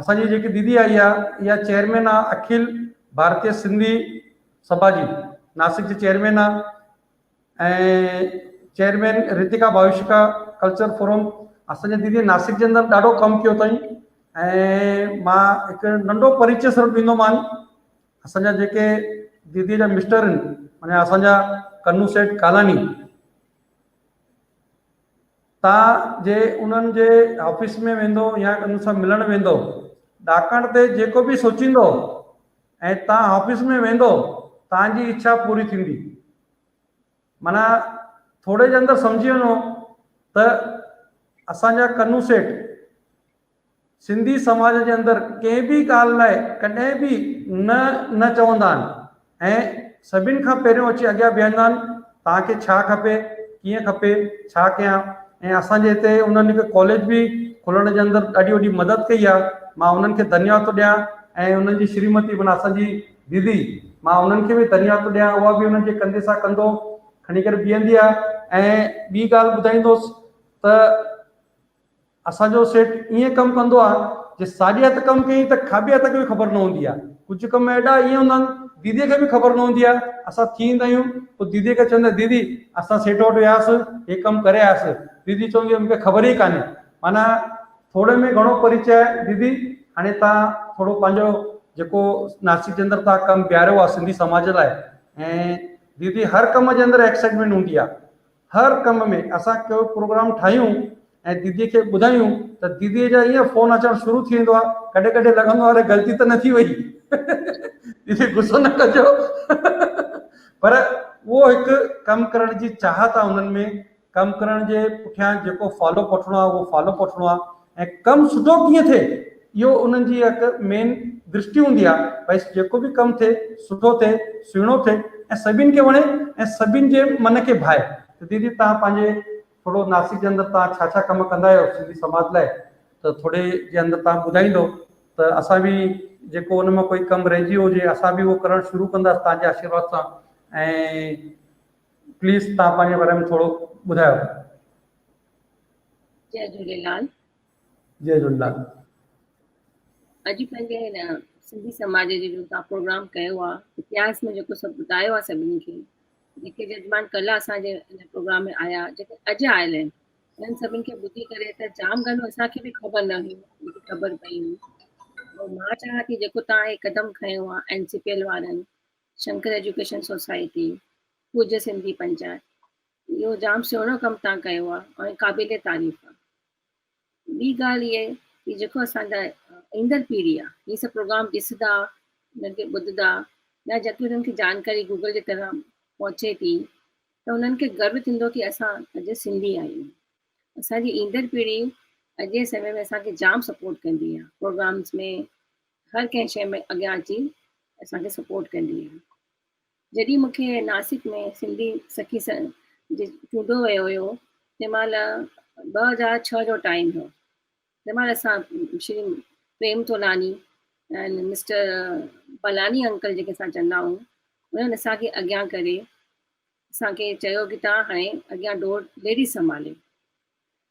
اسان جي جيڪي ديدي آئي آ اها چيئرمين آ اکل ڀارتي سنڌي سڀا جي ناسڪ جي چيئرمين آ ۽ chairman Ritika Bhavishka culture forum اسان جي ديدي ناسڪ جي اندر ڏاڍو ڪم ڪيو اٿائين ۽ مان هڪ ننڍو پريچي صرف ڏيندو مان اسان جا جيڪي ديدي جا مسٽر آهن معنی اسان جا کنو سيٺ ڪالاني تان جي انهن جي آفيس ۾ ويندو يا انهن سان ملڻ ويندو، ڏاڪڻ تي جيڪو به سوچيندو ۽ تان آفيس ۾ ويندو تان جي اڇا پوري ٿيندي. معنيٰ ٿورڙي جي اندر سمجهي وڃو ته اسان جا ڪنو سيٺ. سنڌي سماج جي اندر ڪنهن به ڳالهه لاء ڪڏهن به نه نه چوندا آهن ۽ سڀني کان پهريون اچي اڳيان بيهندا آهن توهان کي ڇا کپي ڪيئن کپي ڇا ڪيان ۽ اسان جي هتي انهن هڪ ڪاليج به کولڻ جي اندر ڏاڍي وڏي مدد ڪئي آهي مان انهن کي ڌنيواد ٿو ڏيان ۽ انهن جي شريمتي معنيٰ اسان جي ديدي مان انهن کي به ڌنيواد ٿو ڏيان اها به انهن جي ڪنڌي سان ڪنڌو کڻي ڪري بيهندي آهي ۽ ٻي ڳالهه ٻڌائيندوس ته اسان جو سيٽ ائين ڪم ڪندو آهي جي ساڄي هٿ ڪم ڪيئين ته کاٻي هٿ کي به خبر نه هوندي آهي. ڪجهه ڪم اهڙا ائين هوندا آهن ديديء کي به خبر نه هوندي آهي. اسان ٿي ايندا آهيون پوء ديديء کي چوندي ديدي اسان سيٽ وٽ وياسي هي ڪم ڪري آياسي ديدي چوندي مون کي خبر ئي ڪانهي معنيٰ ٿوري ۾ گهڻو پريچي آهي ديدي هاڻي توهان ٿورو پنهنجو جيڪو ناسڪ جي اندر توهان ڪم بيهاريو آهي سنڌي سماج لاء ۽ ديدي هر ڪم جي اندر ايڪسائٽمينٽ هوندي آهي هر ڪم ۾ اسان ڪو پروگرام ٺاهيون ۽ ديدي کي ٻڌايون ته ديدي جا ائين فون اچڻ شروع ٿي ويندو آهي ڪڏهن ڪڏهن لڳندو آهي اڙي غلطي ته نه ٿي وئي ديدي غصو نه ڪجو پر اهو هڪ ڪم ڪرڻ جي چاهت آهي انهن ۾ ڪم ڪرڻ جي پٺيان جيڪو فالو اپ وٺڻو آهي اهو فالو اپ وٺڻو آهي ۽ ڪم سٺو ڪيئن ٿئي اهو انهن جي هڪ مين درشٽي هوندي آهي ڀئي جيڪو به ڪم ٿئي سٺو ٿئي سهڻو ٿئي ۽ سڀين کي وڻي ۽ سڀين جي من کي ڀائي ته ديدي توهان پنهنجي ٿورو ناسڪ جي اندر توهان ڇا ڇا ڪم ڪندا آهيو سنڌي سماج لاء ته ٿوري جي اندر توهان ٻڌائيندو ته اسان به جيڪو ان مان ڪوئي ڪم رهجي ويو هجي اسان به اهو ڪرڻ شروع ڪنداسين توهان جي آشيرواد سان ۽ پليز توهان پنهنجي باري ۾ ٿورو ٻڌايو جي جهونيلال جي جهونيلال اڄ پنهنجي هن سنڌي سماج جي جو تان پروگرام ڪيو آ اتهاس ۾ جيڪو سڀ ٻڌايو آ سڀني کي جيڪي ججمان ڪل اسان جي هن پروگرام ۾ آيا جيڪي اڄ آيل آهن انهن سڀن کي ٻڌي ڪري ته جام ڳالهيون اسان کي به خبر نه هيون جيڪي خبر پئي هيون مان چاهيان ٿي جيڪو تان هي قدم کنيو آ اين سي پي ايل وارن شنڪر ايجوڪيشن سوسائٽي پوجا سنڌي پنچائت اهو جام سهڻو ڪم تان ڪيو آ ۽ قابل تعريف آ ٻي ڳالهه اهي ڪي جيڪو اسان جا ايندڙ پيڙهي آ هي سڀ پروگرام ڏسدا انهن کي ٻڌدا يا جيڪي انهن کي جانڪاري گوگل جي طرح پهچي ٿي ته انهن کي گرو ٿيندو ڪي اسان اڄ سنڌي آهيون اسان جي ايندڙ پيڙهي اڄ جي سمي ۾ اسان کي جام سپورٽ ڪندي آ پروگرامز ۾ هر ڪنهن شي ۾ اڳيان اچي اسان کي سپورٽ ڪندي آ جڏهن مون کي ناسڪ ۾ سنڌي سکي سنگهه جي چونڊو ويو هيو تنهن مهل ٻه هزار ڇهه جو ٽائيم هيو تنهن مهل اسان شري پريم تولاني ۽ مسٽر بلاني انڪل جيڪي اسان چوندا آهيون انهن اسانکي اڳيان ڪري اسانکي چيو ڪي تان هاڻي اڳيان ڊور ليڊيز سنڀالي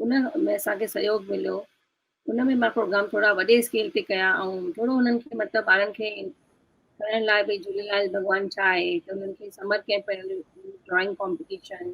ان ۾ اسان کي سهيوگ مليو ان ۾ مان پروگرام ٿورا وڏي اسڪيل تي ڪيا ۽ ٿورو انهن کي مطلب ٻارن کي ڪرڻ لاء بھي جھوليلال ڀڳوان ڇا آھي ته انهن کي سمر ڪيمپ ڊرائنگ ڪمپٽيشن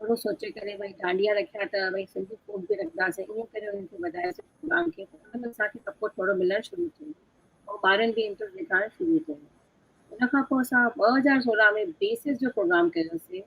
ٿورو سوچي ڪري بھي ڊانڊيا رکيا ته بھي سنڌي فوڪ به رکنداسين ائين ڪري انهن کي وڌايو سي پروگرام کي ان ۾ اسان کي سپورٽ ٿورو ملڻ شروع ٿيو ۽ ٻارن به انٽرسٽ ڏيکارڻ شروع ڪيو ان کان پوء اسان ٻه هزار سورهن ۾ بيسز جو پروگرام ڪيوسي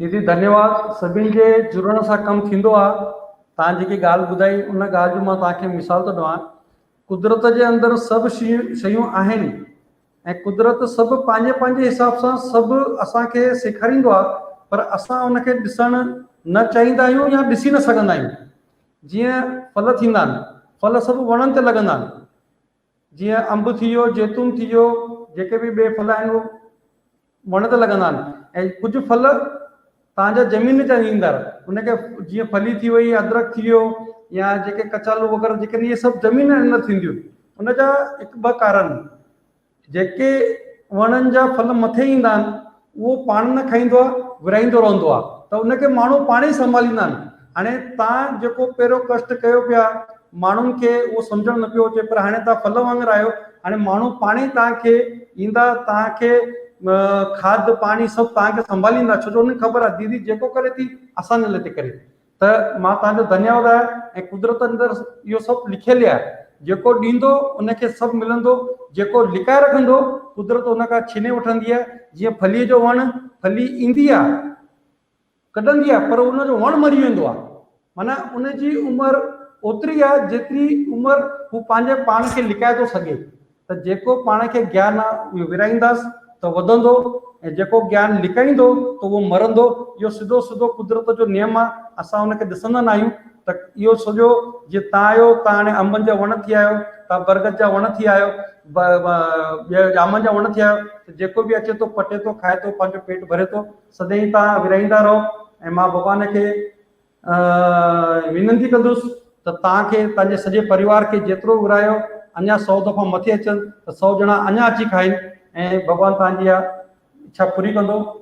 ديدي ڌنيواد سڀني جي جڙڻ سان ڪم ٿيندو آ تان جيڪي ڳالھ ٻڌائي ان ڳالھ جو مان تان کي مثال ٿو ڏوان قدرت جي اندر سڀ شيون آهن ۽ قدرت سڀ پنهنجي پنهنجي حساب سان سڀ اسان کي سيکاريندو آ پر اسان ان کي ڏسڻ نه چاهيندا آهيون يا ڏسي نه سگهندا آهيون جيئن ڦل ٿيندا آهن ڦل سڀ وڻن تي لڳندا آهن جيئن انب ٿي ويو، زيتون ٿي ويو، جيڪي به ٻئي ڦل آهن اهي وڻ تي لڳندا آهن ۽ ڪجهه ڦل توهان جا زمين تي ايندڙ ان کي جيئن ڦلي ٿي وئي، ادرڪ ٿي ويو يا جيڪي ڪچالو وغيره جيڪي اهي سڀ زمين جي اندر ٿينديون آهن ان جا هڪ ٻه ڪارڻ جيڪي وڻن جا ڦل مٿي ايندا آهن اهو پاڻ نه کائيندو آهي، ورهائيندو رهندو آهي ته ان کي ماڻهو پاڻ ئي سنڀاليندا آهن. هاڻي توهان جيڪو پهريون ڪشٽ ڪيو پيا، ماڻهن کي اهو سمجهڻ نه پيو اچي پر هاڻي توهان ڦل وانگر آهيو، هاڻي ماڻهو پاڻ ئي توهان کي ايندا، توهان کي کاڌ، پاڻي سڀ توهان کي سنڀاليندا ڇو جو انهن کي خبر آهي ديدي جيڪو ڪري ٿي، اسان جي لاء ٿي ڪري. ته مان توهان جو ڌنيواد آهيان ۽ قدرت اندر اهو سڀ لکيل آهي، جيڪو ڏيندو ان کي سڀ ملندو، جيڪو لڪائي رکندو قدرت ان کان ڇيني وٺندي آهي، جيئن ڦليء جو وڻ، ڦلي ايندي آهي، ڪڍندي آهي پر ان جو وڻ مري ويندو آهي، معنيٰ ان جي عمر اوتري آهي جيتري عمر هو پنهنجي پاڻ کي لڪائي ٿو سگهي، ته جيڪو پاڻ کي گيان آ اهو ورهائينداس ته وڌندو ۽ جيڪو گيان لڪائيندو ته اهو مرندو. اهو سڌو سڌو قدرت جو نيم آ، اسان ان کي ڏسندا ناهيون ته اهو سڄو جيئن تان آيو تان هاڻي انبن جا وڻ ٿي آيو، تان برگد جا وڻ ٿي آيو، ٻيا ڄامن جا وڻ ٿي آيو ته جيڪو به اچي ٿو پٽي ٿو کائي ٿو پنهنجو پيٽ ڀري ٿو. سدائين تان ورهائيندا رهو ۽ مان ڀڳوان کي. آء وينتي ڪندس ته توهان کي تنهنجي سڄي پريوار کي جيترو ورهايو اڃا سؤ دفعو مٿي اچن ته سؤ ڄڻا اڃا اچي کائين ۽ ڀڳوان توهان جي اها اڇا پوري ڪندو.